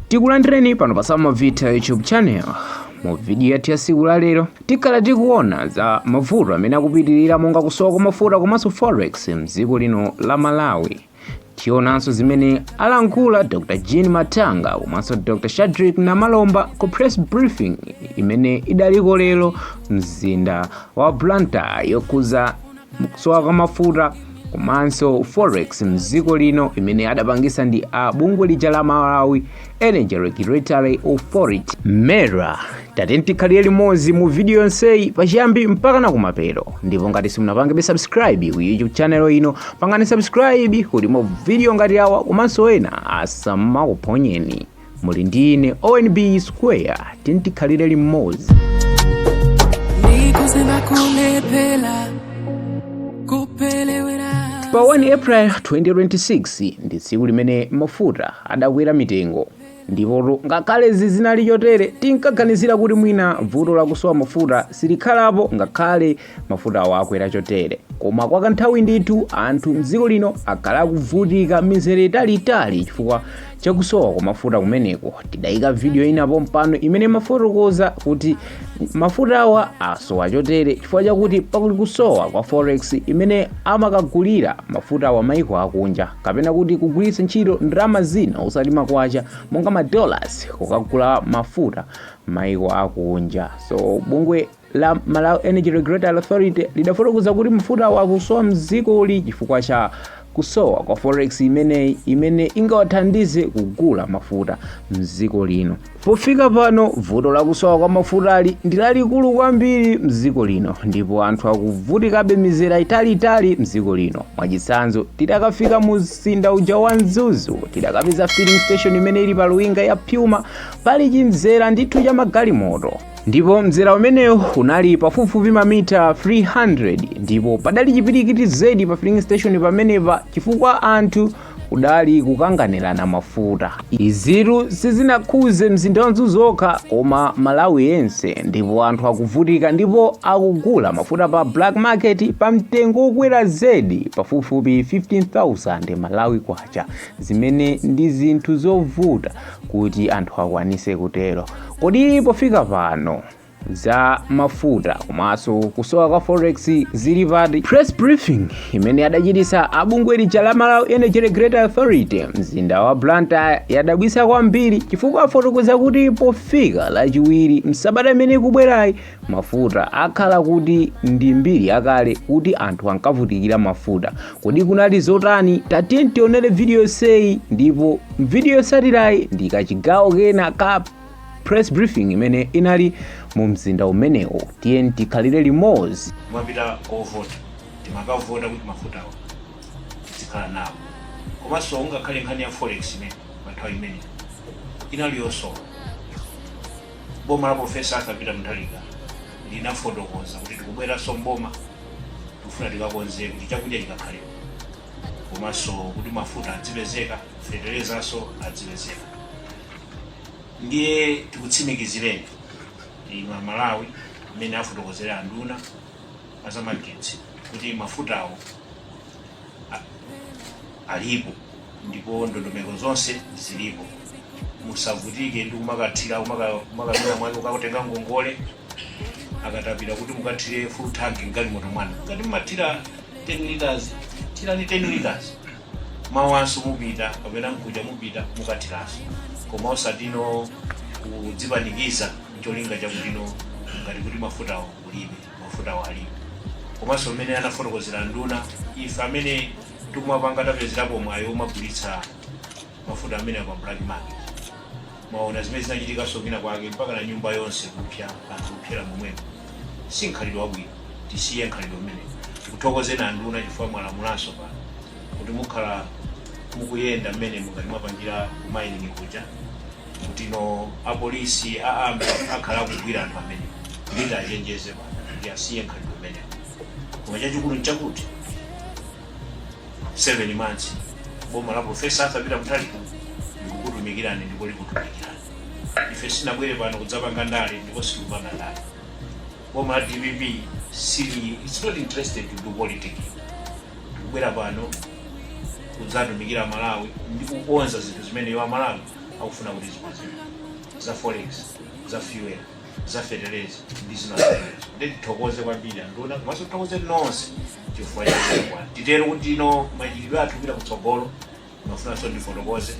tikulandireni pano pa samavita youtube channel mu vidiyo yathu ya siku la lero tikhala tikuona za mavuto amene akupitirira monga kusowa kwa mafuta komanso forex mdziko lino la malawi tionanso zimene alankhula dr jean matanga komanso dr shadrick namalomba ku press briefing imene idaliko lero mzinda wa blantyre yokhuza kusowa kwa mafuta komanso forex mdziko lino imene adapangisa ndi a bungwe lija la malawi energy regulatory authority mera tatiyeni tikhalire limodzi mu video yonseyi pachiyambi mpaka na kumapeto ndipo ngati simunapangebe subscribe ku youtube channel ino pangani subscribe kuti ma video ngati awa komanso ena asamakuphonyeni muli ndi ine onb square tiyeni tikhalire limodzi pa 1 april 2026 ndi tsiku limene mafuta adakwera mitengo ndipotu ngakhale izi zinali chotere tinkaganizira kuti mwina vuto lakusowa mafuta silikhalapo ngakhale mafutawa akwera chotere koma kwa kanthawi ndithu anthu mdziko lino akhala akuvutika mizere italiitali chifukwa chakusowa kwa mafuta kumeneko tidayika vidiyo ina pompano imene imafotokoza kuti mafutawa asowa chotere chifukwa chakuti pali kusowa kwa forex imene amakagulira mafutawa maiko akunja kapena kuti kugwiritsa ntchito ndalama zina osati makwacha monga madollars kukagula mafuta maiko akunja so bungwe la Malawi Energy Regulatory Authority lidafotokoza kuti mafutawa akusowa mdzikoli chifukwa cha kusowa kwa forex imeneyi imene ingawathandize kugula mafuta mdziko lino pofika pano vuto lakusowa kwa mafutali ndi lalikulu kwambiri mdziko lino ndipo anthu akuvutikabe mizere italiitali mdziko lino mwachitsanzo tidakafika mu mzinda uja wa mzuzu tidakapeza filling station imene ili pa luwinga ya puma pali chimzera ndithu cha magalimoto ndipo mzera umenewo unali pafupifupi mamita 300 ndipo padali chipirikiti zedi pa filling station pamenepa chifukwa anthu adali kukanganirana mafuta izitu sizinakhuze mzinda wa mzuzu okha koma malawi yense ndipo anthu akuvutika ndipo akugula mafuta pa black market pa mtengo wokwera zedi pafupifupi 15000 malawi kwacha zimene ndi zinthu zovuta kuti anthu akwanise kutero kodi pofika pano za mafuta komanso kusowa kwa forex zili pati press briefing imene adachititsa abungwe lija la malawi energy regulatory authority mzinda wa blantyre yadabwisa kwambiri chifukwa afotokoza kuti pofika lachiwiri msabata imene ikubwerayi Mafuta akhala kuti ndi mbiri yakale kuti anthu ankavutikira mafuta. Kodi kunali zotani? Tatiyeni tionere vidiyo yonseyi ndipo m'vidiyo yotsatirayi ndi kachigawo kena ka press briefing imene inali mu mzinda umenewo. Tiyeni tikhalire limodzi. kumapita kovota timakavota kuti mafutawo tizikhala nawo komanso ungakhale nkhani ya forex imene panthawi imene inali yosowa boma la Profesa Arthur Peter Mutharika linafotokoza kuti tikubweranso mboma tikufuna tikakonze kuti chakudya chikakhalepo komanso kuti mafuta adzipezeka feterezanso adzipezeka ndiye tikutsimikizireni inu amalawi mmene afotokozera anduna azamagetsi kuti mafutawo a- alipo ndipo ndondomeko zonse zilipo musavutike ndi kumakathira kumakamira mwanu kukatenga ngongole ya katapira kuti mukathire full tank mgalimoto mwanu ngati mumathira 10 liters thirani 10 liters mawanso mupita kapena mkuja mupita mukathiranso koma osatino kudzipanikiza cholinga chakutino ngati kuti mafutawo kulibe mafutawo alipo komanso mmene anafotokozera nduna ife amene Amene tikumapanga tapezerapo mwayi omagulitsa mafuta amenewa pa black market mwaona zimene zinachitikanso kwina kwake mpaka na nyumba yonse kupya anthu kupyera momwemo si mkhalidwe wabwino tisiye mkhalidwe umene tikuthokozeni anduna chifukwa mwalamulanso pano kuti mukhala mukuyenda mmene mungati mwapangira kumayiningi kuja kutino apolisi a army akhala akugwira anthu amene ndiwachenjeze pano kuti asiye mkhalidwe koma chachikulu nchakuti 7 months boma la profesa arthur peter mutharika likukutumikirani ndipo likutumikirani ife sinabwere pano kudzapanga ndale ndipo sitikupanga ndale boma la dpp sili its not interested to do politics tikubwera pano kudzatumikira amalawi ndi kukonza zinthu zimene iwo amalawi akufuna kuti zikonzedwe za forex za fuel za feteleza ndi zina ndiye tithokoze kwambiri anduna komanso tithokoze nonse chifukwa chakwa titero kuti ino machitidwe athu kupita kutsogolo ndimafunanso ndifotokoze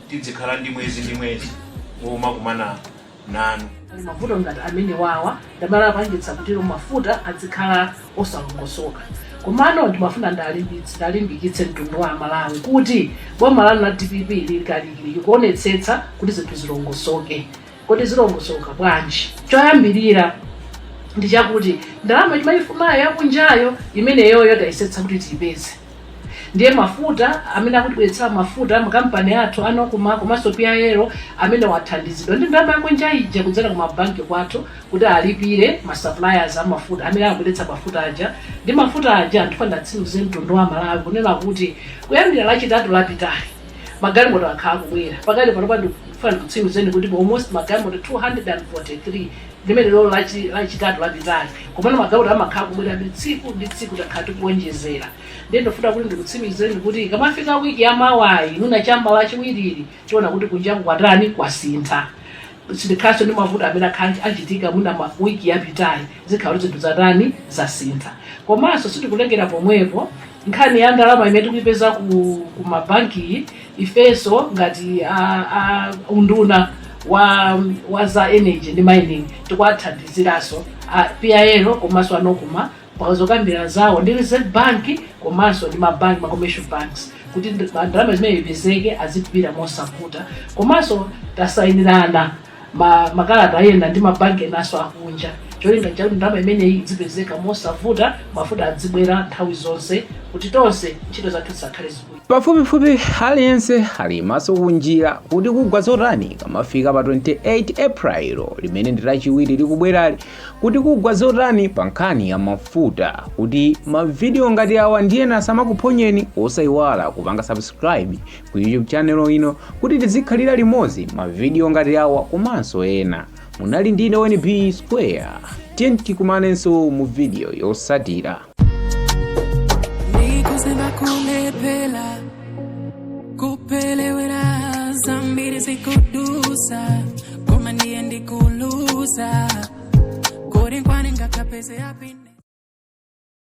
tidzikhala ndi mwezi ndi mwezi womakumana nanu Pali mavuto ngati amenewa wa ndalama apangitsa kuti mafuta azikhala osalongosoka komano ndimafuna ndalimbikitse mtundu wa amalawi kuti boma lanu la dpp lili kalikiliki kuonetsetsa kuti zinthu zilongosoke Kodi zilongosoka bwanji? Choyambirira ndi chakuti ndalama timayifunayi yakunjayo imeneyoyo tayesetsa kuti tiyipeze ndiye mafuta amene akutibweretsera mafuta makampani athu a NOCMA komanso PIL amene athandizidwa ndi ndalama yakunja ija kudzera ku mabanki kwathu kuti alipire ma suppliers a mafuta amene akubweretsa mafuta aja ndi mafuta aja ndifuna nditsimikize mtundu wa Malawi kunena kuti kuyambira lachitatu lapitali magalimoto akhala akubwera pakali panopa ndifuna ndikutsimikizeni kuti almost magalimoto 243 limenelolo lachi- lachitatu lapitali komano magalimoto amakhala akubwera tsiku ndi tsiku takhala tikuonjezera ndiye ndifuna kuti ndikutsimikizeni kuti ikamafika wiki ya mawayi mwina cha m'ma lachiwirili tiona kuti kunjaku kwatani kwasintha sitikhalaso ndi mavuto amene akhala akuchitika mwina ma- wiki yapitayi zikhala kuti zinthu zatani zasintha komanso sitikulekera pomwepo nkhani ya ndalama imene tikuyipeza ku, ku mabanki ifeso ngati a, a unduna wa, wa za energy ndi mining tikuwathandiziraso a pil komanso a nocma pa zokambirana zawo ndi reserve bank komanso ndi mabanki ma commercial banks kuti ndi- ndalama imeneyi ipezeke adzibwera mosavuta komanso tasayinirana ma- makalata ena ndi mabanki enaso akunja cholinga chakuti ndalama imeneyi idzipezeka mosavuta mafuta adzibwera nthawi zonse kuti tonse ntchito zathu zizikhala zikuyenda pafupifupi aliyense ali maso kunjira kuti kugwa zotani kamafika pa 28 april limene ndi lachiwiri likubwerali kuti kugwa zotani pa nkhani ya mafuta kuti mavidiyo ngati awa ndi ena asamakuphonyeni osayiwala kupanga subscribe ku YouTube channel ino kuti tizikhalira limodzi mavidiyo ngati awa komanso ena. Munali ndine ONB Square. Tiyeni tikumanenso mu video yotsatira. Nikusema kulepela kupelewera zambiri zikudutsa koma ndiye ndikuluza kodi nkwaningakapeze yapini